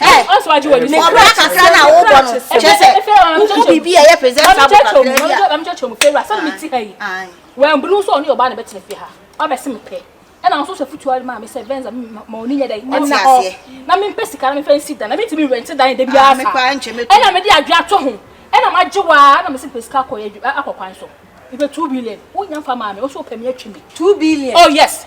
ɔbra kakra na wobɔ no kyɛ sɛ wohu biribi a ɛyɛ presentable kakra bi a mamkyɛkyɛ mu fɛwura sɛ mete ha yi wambunu sɛ ɔne ɔbaa na bɛtena fie ha ɔbɛse mepɛ ɛna nso sɛ futuo ma me sɛ venza ma ɔni nyɛ dɛ ɛna hɔ na mempɛ sika na mefɛ nsi dan na mentumi rente dan da biara sa ɛna mede adwe ato ho ɛna magye waa na mese mepɛ sika akɔ akɔ kwan so mepɛ 2 billion wonya fa maa me wo so wopɛ me atwi me 2 billion oh yes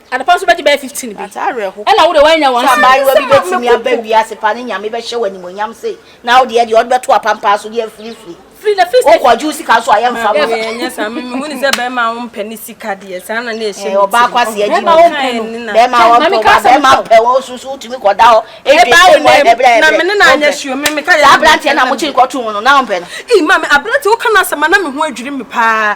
Adepa nso bɛgye bɛyɛ fifteen bi. Ɛna wo deɛ woannya one cedi. Sɛ abaayewa bi bɛtumi aba wiase pa ne Nyame bɛhyɛ wo animuonyam sei na wo deɛ deɛ wode bɛto apampaa so deɛ firifiri. Firi na firi sɛ. Wokɔ agye wo sika nso a yɛmfa ma. Maame ɛnyɛ saa me mehu ne sɛ bɛrima a wompɛ ne sika deɛ saa na na ɛhyɛ me ti. Ɔbaa kwasi agyi mu. Bɛrima a wɔmpɛ ɔbaa bɛrima mpɛ wɔn nso so wotumi kɔda hɔ. Ebi sɛ mu ayɛ brɛ brɛ. Na me ne na anyɛ sure me meka yɛ. Saa aberanteɛ na mo kyi nkɔto mu no na wompɛ no. Ii maame aberanteɛ woka n'asɛm a na me ho adwiri me paa.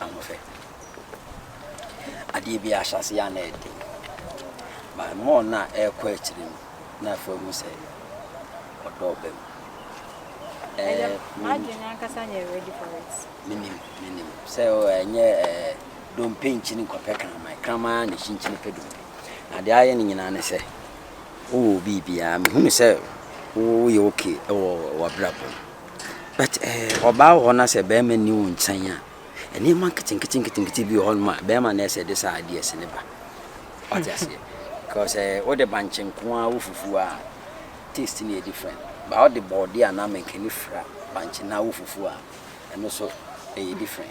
Ahoɔfɛ. Adeɛ bi ahyɛ ase yɛ a na ɛyɛ den. But more na ɛrekɔ akyiri no, na afei ɔhu sɛ ɔdɔ ɔba mu. Ɛyɛ eh, adwene ankasa nyɛ ready for it. Menim, menim. Sɛ ɛnyɛ eh, eh, dompe nkyini nkɔpɛ kraman. Kraman na ɛhyi nkyini pɛ dompe. Na deɛ ayɛ no nyinaa ne sɛ, wowɔ biribiara. Mehunu sɛ woyɛ okay wɔ w'abrabɔ mu. But eh, ɔbaa wɔ hɔ na sɛ bɛrima nni wo nkyɛn a, nneɛma nketenkete nketenkete bi wɔ hɔ nom a bɛrima na ɛsɛ de saa adeɛ si ne ba. Wate aseɛ? Because eh, wode bankye nko ara wo fufuo a, taste no yɛ different. Ba wode bɔɔde anaa mankani fra bankye na wo fufuo a, ɛno so ɛyɛ different.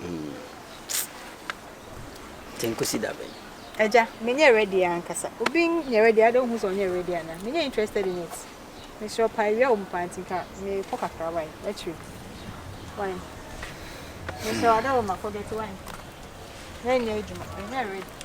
Mm. Nti nkosi da bɛn? Agya, menyɛ ready ankasa. Obi nyɛ ready a, adɛn wohu sɛ ɔnyɛ ready anaa? Menyɛ interested in it. Mesrɛ paa, awia wɔ mu paa nti nka mekɔ kakra wae, akyire. Wae. Mesrɛ wo, ada wɔ makɔ dɔte wae. Yɛnyɛ adwuma, menyɛ ready.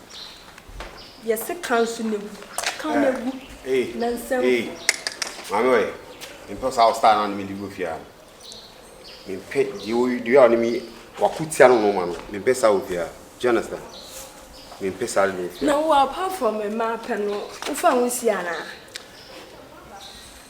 Yɛse ka nso na egu. Ka na egu. Ee. Na nsɛm. Ee. Maame ɔyɛ. Mempɛ wo saa wo style no a ne mede gu fie a. Mempɛ deɛ wo deɛ a ɔne me wako tia no no ma no. Mempɛ saa wɔ fie a. Do you understand? Mempɛ saa deɛ wɔ fie a. Na wo apart from mmaa pɛ no, wofa ho si anaa?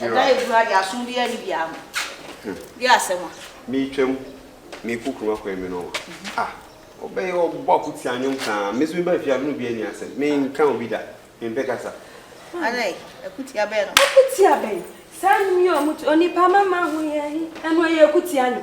Ɛda a ɛgu ha deɛ aso biara nni biara ho. Deɛ asɛm a. Meretwam, merekɔ kurom akwan mu no, ah, ɔbɛyɛ ɔbɔ ako tia nnwom saa. Me nso meba afie a me ne obi ani asɛm. Menka obi da, mempɛ kasa. Adɛn? Akutia bɛn no? Akutia bɛn? Saa nnwom yi a wɔto, Onipa mama ho hia he, ɛno ɛyɛ akutia no?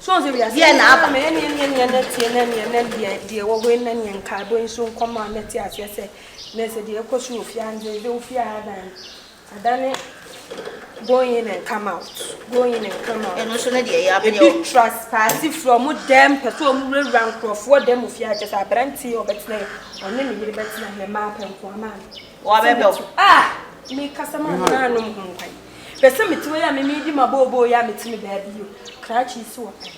So ɔn sɛ wiase Deɛ na aba. nyinaa mɛ ɛneɛ neɛ na tie na neɛ na deɛ deɛ ɛwɔ hɔ yi na neɛ nkaebɔ yi nso nkɔ ma na te aseɛ sɛ nɛ sɛ deɛ ɛkɔ so wɔ fie ha no deɛ ɛbɛwo fie ha adan no adane going in and come out going in and come out ɛno nso ne deɛ ɛyɛ abɛyɛ ebi wɔ traspaase firi ɔmo dɛm pɛ sɛ ɔmo wurawura nkorɔfoɔ dɛm wɔ fie ha kyɛ sɛ aberanteɛ ɔbɛtena yɛ ɔne ne yere bɛtena yɛ mmaa pɛ nkoa maa no wɔabɛbɛ wo ah mekasa maa me naanom ho nkwan Hwɛ sɛ mete hɔ yi a me medi m'abooboo yi a mete me baabi yi o, krakye yi si wɔ pɛn.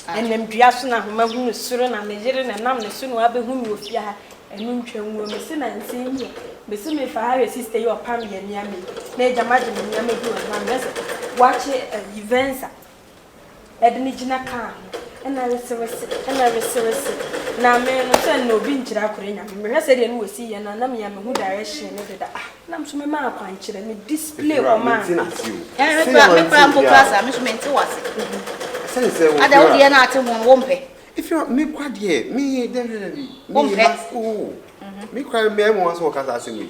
Ɛnam dua so na homa hunu soro na me yere na ɛnam ne so na wabehu me wɔ fie ha, ɛno ntwa ngu o, mese nansa yi ɛ, mese mefa ha hwɛ sister yi a ɔpam yɛn nneɛma yi, na agya magye me nneɛma bi wɔ ne hɔ a mehwɛ sɛ wakye ayi Venza Ɛde no gyina kaa ho na resewese na resewese na me no sɛ na obi nkyerɛ akora nyame mehwɛ sɛ deɛ no wɔ si yɛ na na mia mehu direction no deda ah na mso me maa kwan kyerɛ me display wɔ maa me me kura me kura mpo kura sa me so me nte wase sɛn sɛ wo ada wo deɛ na ate ho no wo mpɛ if you me kwa deɛ me dɛ dɛ dɛ me ma oh me kwa me mo aso kasa asɛm yi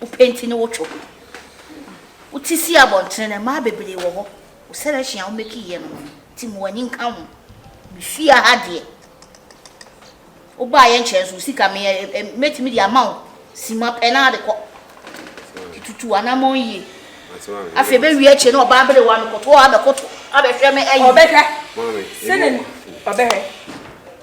Wo penti ne wo two. Wo ti si abɔntene no, mmaa bebree wɔ hɔ, wo selection a wo meki yɛ no no nti ma w'ani nka ho. Me fie ha deɛ, wo baa yɛ nkyɛn so, wo sika me yɛ, eh, mɛtumi de ama wo, sima pɛ na de kɔ. Tutu anamɔn yie. Afei bɛ wie akyire na ɔbaa bere wa no kɔto hɔ abɛkoto, abɛhwɛ me ayi. Ɔbɛhwɛ. Sɛnɛ ɔbɛhwɛ.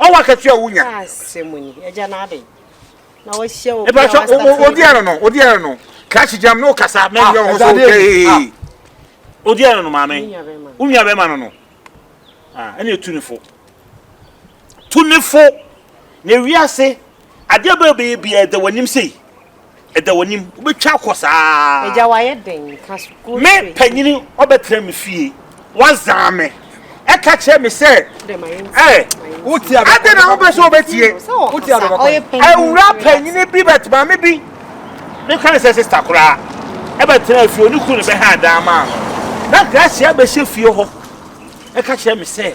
Ɔwɔ akatua a wonya. Asɛmuni, agya na aden. Na wahyia obi a Epa so wasa o- odi ano no, odi ano no. Crash jam no kasa men yɛ ho so okay. Odi ano no maame. Wo nua bɛma no no. Ah, ɛna etu ne fo. Tu ne fo. Na wiase adeɛ bɛyɛ bɛyɛ biara da w'anim sei. Ɛda w'anim, wobɛtwa akɔ saa. Agya wayɛ den, ka sukuu no firi. Me panyini ɔbɛtena me fie, wazan me. Ɛka kyerɛ me sɛ, ɛɛ. Adɛn na wopɛ sɛ wobɛtie? Awura panyini bi bɛt maame bi. Ne ka ne sɛ sista koraa. Ɛbɛtena fie, ɔne kunu no bɛha adan maa no. Na Gracia bɛhyɛ fie hɔ. Ɛka kyerɛ me sɛ.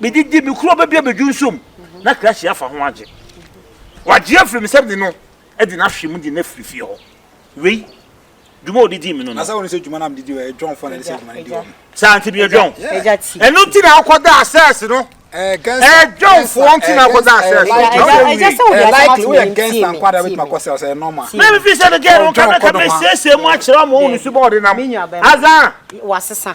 Medidi, mekuru ɔbɛbia bɛdwu nso mu, na krakye afa ho agye. Wagye afiri me sɛm de no, ɛde no ahwe mu de no afiri fie hɔ. Wei, dwuma a ɔdidi me no no. Na sɛ wɔn sɛ dwuma no a medidi wɔ, ɛdwɔnfoɔ na ɛde sɛ dwuma no di wɔn. Saa nti meyɛ dwɔn. Ɛno nti na akɔda asɛs no. Ɛdwɔnfoɔ nti na akɔda asɛs no. Ɛgya sɛ wode asɛm ato ne ntie me. Na mefi sɛ no gɛɛ no nka na ka mesiesie mu akyerɛ ɔmo wo ne sumɔ ɔde nam. Azan. Wasesa.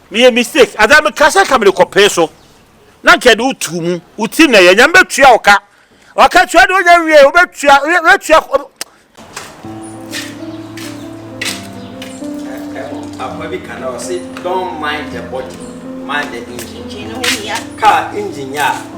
Meyɛ mistake anaa meka sɛ nka mede kɔpee so na nka yɛde wo too mu wo tirim na yɛ nyame bɛtua wo ka waka tua deɛ wonya nwie wobɛtua wobɛtua Akoa bi ka na ɔse don't mind the body mind the engine car engine yɛ a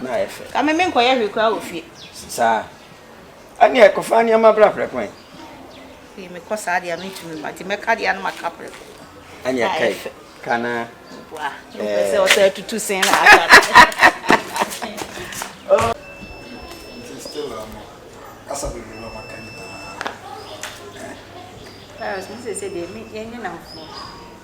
na ayɛ fɛ. Kame menkɔyɛ hwee koraa wɔ fie. Saa. Ɛneɛ kɔfa nneɛma bra prɛko ɛ. Fii mekɔ saa deɛ a mentumi mma nti mɛka deɛ a na maka prɛko. Ɛneɛ kai ka na. Boa. Mpɛ sɛ ɔsɛ tutu sen na aka. kasa bebree na maka nyinaa. Cyrus, me sese deɛ yɛnyɛ nnamfoɔ.